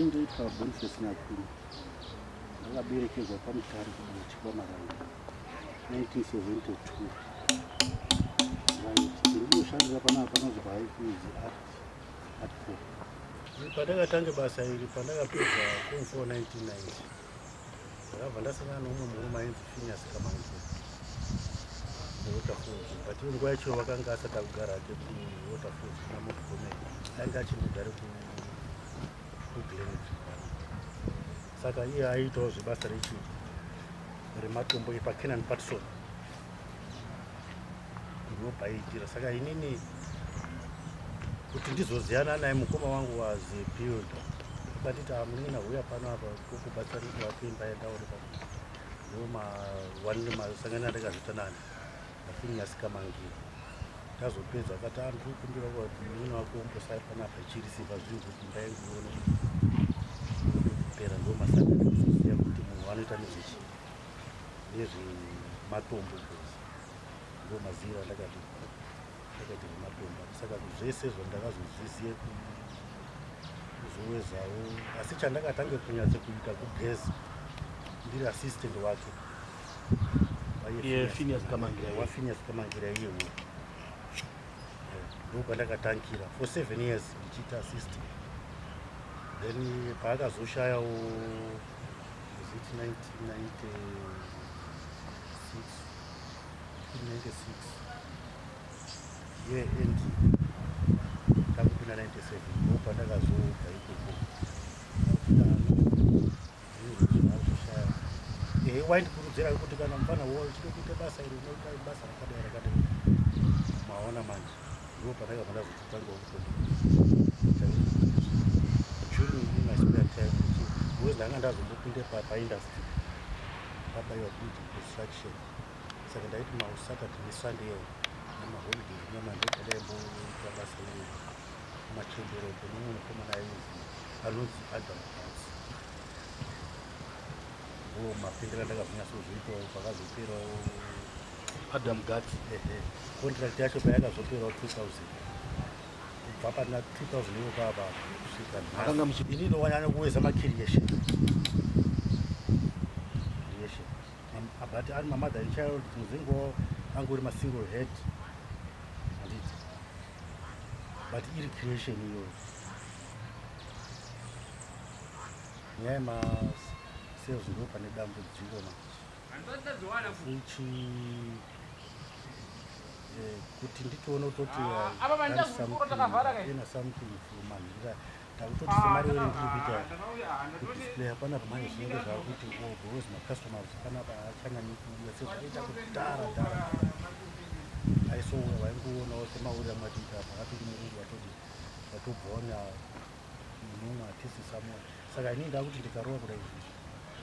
Ndoitwa Boniface Nyakuru akaberekerwa pamutare kuchikwa Maranga 1972 ndirikushandira panapa panonzi pahaikuzi atco pandakatange basa iri pandakapedza kung 4 1990 ndakabva ndasangana noumwe murume ainzi finias kamanzira newaterfalls but iyo nguva yacho vakanga asati akugara ake kuwaterfalls kuna motgome ainge achingogare kuglenet saka iye aiitawo zvebasa rechi rematombo epacanan patson Ndinopa ijira saka inini kuti ndizoziyana naye mukoma wangu was build batiti amunina huya pano apa kukubatsani kuvakuimba yenda uri pa ndiwo ma one masangana ndakazvita nani afinyasika mangi tazopedza akati andu kumbira kuti munina wako umbosai panapa chiri simba zviri kuti imba yangu ione kupera ndiwo masangana kuzoziya kuti munhu anoita nezvechi nezvematombo ndo maziva ndakati ndakati rematomba saka zvese zvandakazozviziye kuzowezawo asi chandakatange kunyatso kuita kugeza ndiri assistant wake wafinus kamangira iyewo ndo kwandakatangira for seven years ndichiita assistant then paakazoshayawo zit 1996 year end ndakupinda 97 ndo pandakazobva ikoko zvazoshaya ehe waindikurudzira kuti kana mfana wo uchida kuita basa iri unoita basa rakadai rakadai maona manje ndo pandakabva ndazototanga kutoita june in my spare time because ndanga ndazombopinde paindustry papa yakuita distraction saka ndaiti masaturday nesunday iwo namaholiday nyama ndotandaimboita basa iri machembero kunomwe mukomana ainzi anonzi adam pasi ndo mapendera ndakazonyatsozviitawo pakazoperawo adam gats ehe contract yacho payakazoperawo 2000 kubva pana 2000 yokava kusvika akanga muchi ini ndowana anokuweza macreation creation but ari mamother child muzingo angu uri masingle head handiti but iri creation iyoyo nyaya ma sales ndo pane dambudziko ma ichi eh, kuti nditoona kutoti ina something fumanhira ndakutoti semari iri ndiri kuita kudisplay hapana zvimwe zvinenge zvakuti because macustomers kana vaachanyanye kuuya sezvakaita kudhara dhara aisoona vaingoonawo semaurira mwatiita pakapiri murungu vatoti vatobhonya munhu umwe hatisi samona saka ini ndakuti ndikarowa kudai izvizvi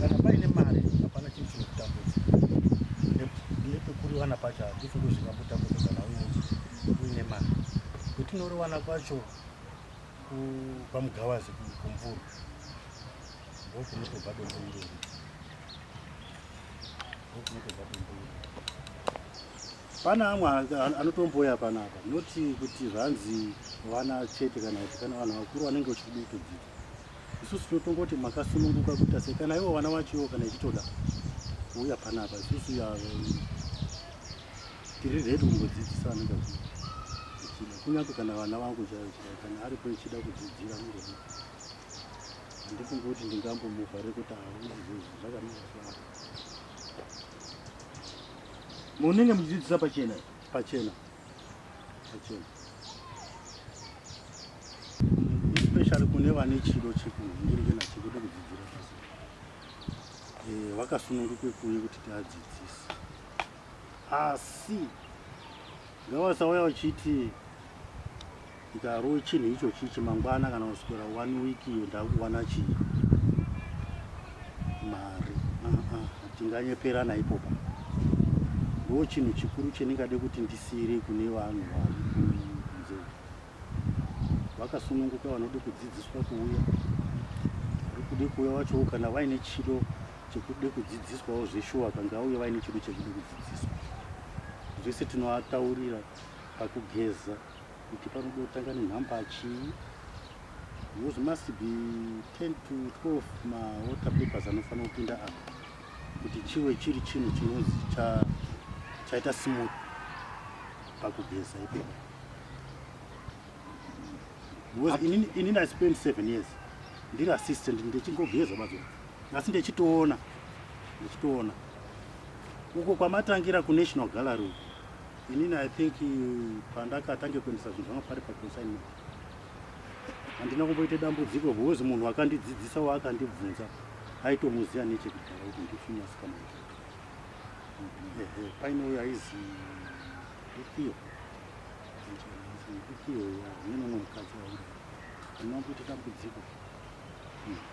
Kana paine mari hapana chinhu chinokutambudza nepekuriwana pacho hatifi kuzvingakutambudza kana uine mari kwetinoriwana kwacho pamugavazi kumvuru ndokunotobva dombo irori ndokunotobva dombo irori pana amwe anotomboya panapa noti kuti zvanzi vana chete kana kuti kana vanhu vakuru vanenge vachikuda kutodzidza isusu tinotongoti makasununguka kuita sei kana ivo vana vacho ivo kana ichitoda kuuya panapa isusu tiri redi kungodzidzisa anenge ichida kunyange kana vana vangu chaivo chida kana aripo ichida kudzidzira anenge handifungi kuti ndingambomuvhare kuti hauzizvi zvakanaka saa munenge muchidzidzisa pachena pachena especially kune vane chido chekuhungirikena chekuda kudzidzira basa eh, vakasununguke kuuye kuti tiadzidzise asi ngavasauya vachiti Ndikarowe chinhu icho chichi mangwana kana kuswera one week iyo ndakuwana chii mari hatinganyeperana uh -uh, ipopa ndo chinhu chikuru chendingade kuti ndisiyire kune vanhu vakunze vakasununguka vanode kudzidziswa kuuya vari kude kuuya vachowo kana vaine chido chekude kudzidziswawo zveshuwa kangauye vaine chido chekude kudzidziswa zvese tinoataurira pakugeza kuti panoda kutanga nenhamba chii because must be 10 to 12 mawater papers anofanira kupinda apa kuti chive chiri chinhu chinonzi chaita smooth pakugeza ipo because inini inini i spend 7 years ndiri assistant ndichingogeza mazo asi ndichitoona ndichitoona uko kwamatangira kunational gallery Inini I think pandakatange kuendesa zvinhu zvangu pari paconsignment handina kumboita dambudziko because munhu akandidzidzisa waakandibvunza aitomuziva nechekudhara kuti ndifini asikana ehe paine uyo aizi ndikiyo ndikiyo ya nemumwe mukadzi waura handina kumboita dambudziko hmm.